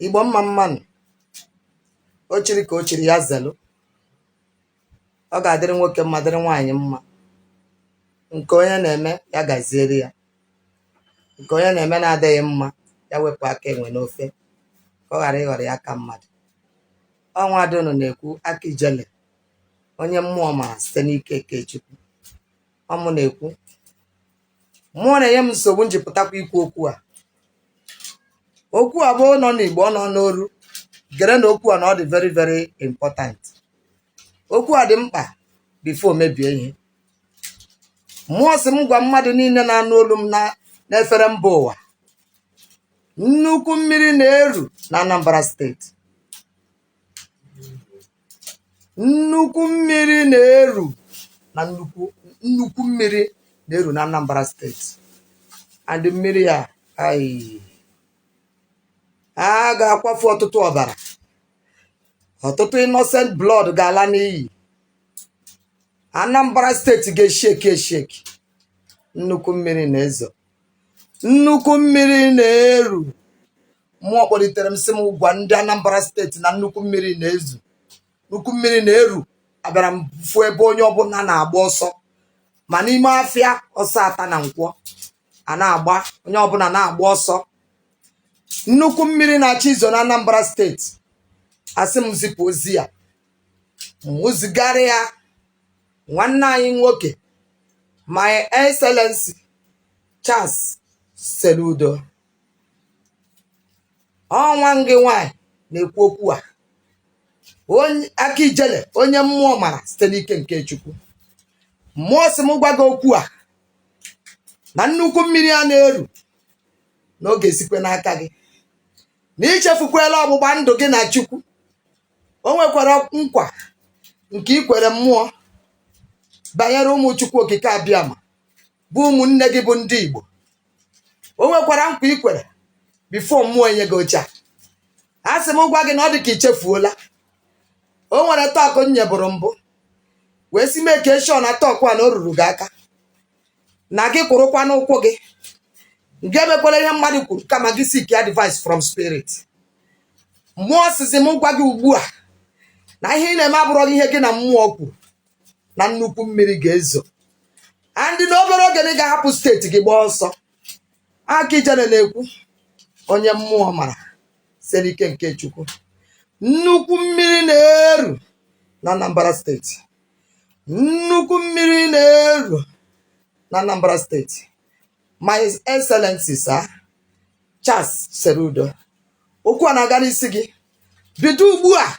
igbo mma mma nụ o chiri ka o chiri ya zelu ọ ga-adịrị nwoke mma dịrị nwaanyị mma nke onye na-eme ya gaziere ya nke onye na-eme na-adịghị mma ya wepụ aka enwe n'ofe ka ọ ghara ịghọrọ ya aka mmadụ ọ nwa ada unu na-ekwu aka ijele onye mmụọ mara site n'ike nke chukwu ọ mụ na-ekwu mmụọ na-enye m nsogbu m ji pụtakwa ikwu okwu a okwu a bụ ọ nọ n'igbo ọ nọ n'oru gerenụ okwu a na ọ dị very very important okwu a dị mkpa before mebie ihe mmụọ sị m gwa mmadụ niile na-anụ olu m n'efere mba ụwa nnukwu mmiri na-eru na anambra steeti nnukwu mmiri na-eru na nnukwu mmiri na-eru na Anambra steeti and mmiri a a ga-akwafu ọtụtụ ọbara ọtụtụ innocent blood ga-ala n'iyi Anambra steeti ga-esheki esheki nnukwu mmiri na-ezo nnukwu mmiri na-eru mmụọ kpọlitere m sị m gwa ndị anambra steeti na nnukwu mmiri na-ezo nnukwu mmiri na-eru abịara m fụ ebe onye ọbụna na-agba ọsọ ma n'ime afịa ọsọ ata na nkwọ a na-agba onye ọbụna na-agba ọsọ nnukwu mmiri na-achọ izo na anambra steeti a sị m zipụ ozi a m zigara ya nwanne anyị nwoke my excellency charles soludo ọ nwa gị nwanyị na-ekwu okwu a onye aka ijele onye mmụọ mara site n'ike nke chukwu mmụọ sị m gwa gị okwu a na nnukwu mmiri a na-eru na ọ ga-esikwe n'aka gị na i chefukwela ọgbụgba ndụ gị na chukwu o nwekwara nkwa nke i kwere mmụọ banyere ụmụ chukwu okike abịama bụ ụmụnne gị bụ ndị Igbo o nwekwara nkwa i kwere before mmụọ enye gị oche a a sị m gwa gị na ọ dị ka i chefuola o nwere talk m nyeburu mbụ wee sị make sure na talk a na o ruru gị aka na gị kwụrụkwa n'ụkwụ gị gị emekwala ihe mmadụ kwuru kama gị seek advice from spirit mmụọ sịzị m gwa gị ugbu a na ihe ị na-eme abụrọ ihe gị na mmụọ kwuru na nnukwu mmiri ga-ezo and na obere oge na ị ga-ahapụ steeti gị gbaa ọsọ aka ijere na-ekwu onye mmụọ mara site n'ike nke chukwu nnukwu mmiri na-eru na anambra steeti nnukwu mmiri na-eru na anambra steeti my excellency sir Charles Soludo okwu a na-aga n'isi gị bido ugbu a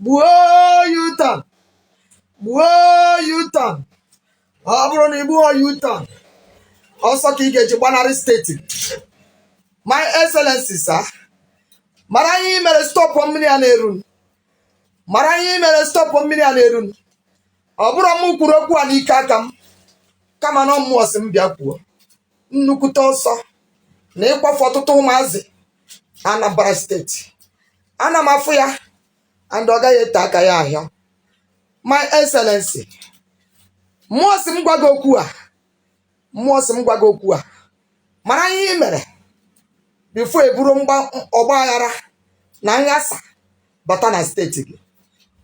gbuo U-turn gbuo U-turn ọ bụrụ na i gbuhọ U-turn ọsọ ka ị ga-eji gbanarị steeti my excellency sir mara ihe ị mere stọpụ mmiri a na-eru mara ihe ị mere stọpụ mmiri a na-eru ọ bụrọ m kwuru okwu a n'ike aka m kama na ọ mmụọ sị m bịa kwuo nnukwute ọsọ na ịkwafu ọtụtụ ụmụazị na Anambra steeti ana m afụ ya and ọ gaghị ete aka ya ahịa my excellency mmụọ sị m gwa gị okwu a mmụọ sị m gwa gị okwu a mara ihe ị mere before eburu mgba- ọgba aghara na nghasa bata na steeti gị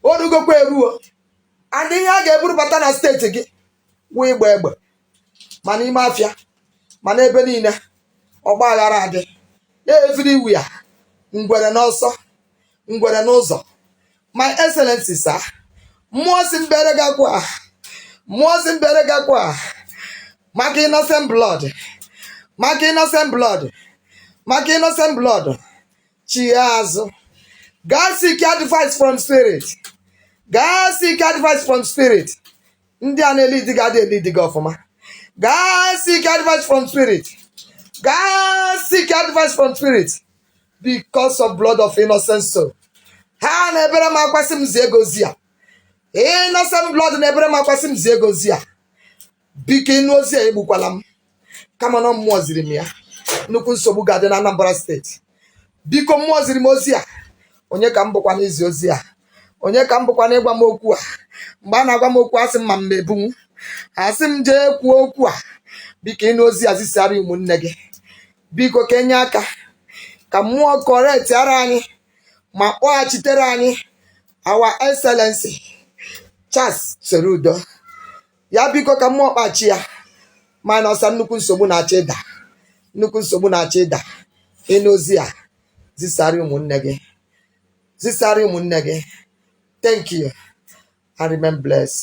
o rugokwa eruo and ihe a ga-eburu bata na steeti gị wụ ịgba egbe ma n'ime afịa ma n'ebe niile ọgba aghara adị everywhere ngwere n'ọsọ ngwere n'ụzọ my excellency sir mmụọ sị m bere gị akwa a, mmụọ sị m bere gị akwa a, maka innocent blood maka innocent blood maka innocent blood chie azụ gaa seek advice from spirit gaa seek advice from spirit ndị a na-elidi gị adị elidi gị ọfụma gaa seek advice from spirit gaa seek advice from spirit because of blood of innocent soul ha na-ebere m akwa sị m zie gị ozi a innocent blood na-ebere m akwa sị m zie gị ozi a biko ị nụ ozi a egbukwala m kama na ọ mmụọ ziri m ya nnukwu nsogbu ga-adị na Anambra steeti biko mmụọ ziri m ozi a onye ka m bụkwa n'izi ozi a onye ka m bụkwa n'ịgwa m okwu a mgbe a na-agwa m okwu asị m ma m ebunwu a sị m jee kwuo okwu a biko ị nụ ozi a zisara ụmụnne gị biko ka e nye aka ka mmụọ correctiara anyị ma kpọghachitere anyị our excellency Charles Soludo ya biko ka mmụọ kpachi ya mana ọsa nnukwu nsogbu na-achọ ịda nnukwu nsogbu na-achọ ịda ị nụ ozi a zisara ụmụnne gị zisara ụmụnne gị thank you and remain blessed